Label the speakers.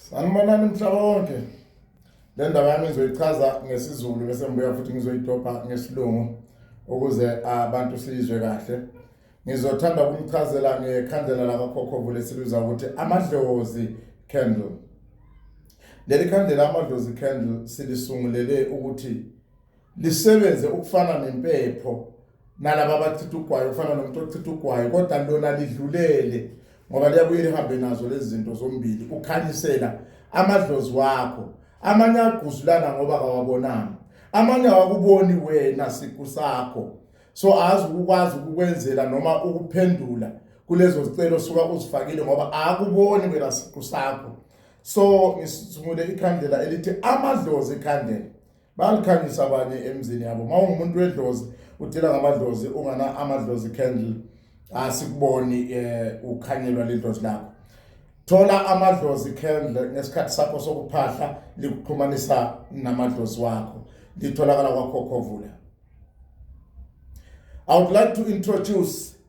Speaker 1: Sanibonani mhlaba wonke. Le ndaba yami ngizoyichaza ngesiZulu bese ngibuya futhi ngizoyidobha ngesilungu ukuze abantu sizwe kahle. Ngizothanda ukumchazela ngekhandlela lakakhokho vule siluza ukuthi amadlozi candle. Leli khandlela amadlozi candle silisungulele ukuthi lisebenze ukufana nempepho nalaba abachitha ugwayi ufana nomuntu ochitha ugwayi kodwa lona lidlulele ngoba liyabuye lihambe nazo lezi zinto zombili ukhanyisela amadlozi wakho amanye agquzulana ngoba kawabonanga amanye awakuboni wena siqu sakho so azi ukwazi ukukwenzela noma ukuphendula kulezo zicelo suka uzifakile ngoba akuboni wena siqu sakho so ngisungule ikhandlela elithi amadlozi ikhandlela bayalukhanyisa abanye emzini yabo uma ungumuntu wedlozi udila ngamadlozi ungana amadlozi candle asikuboni um ukhanyelwa lidlozi lakho thola amadlozi candle ngesikhathi sakho sokuphahla likuxhumanisa namadlozi wakho litholakala kwakhokhovula i would like to introduce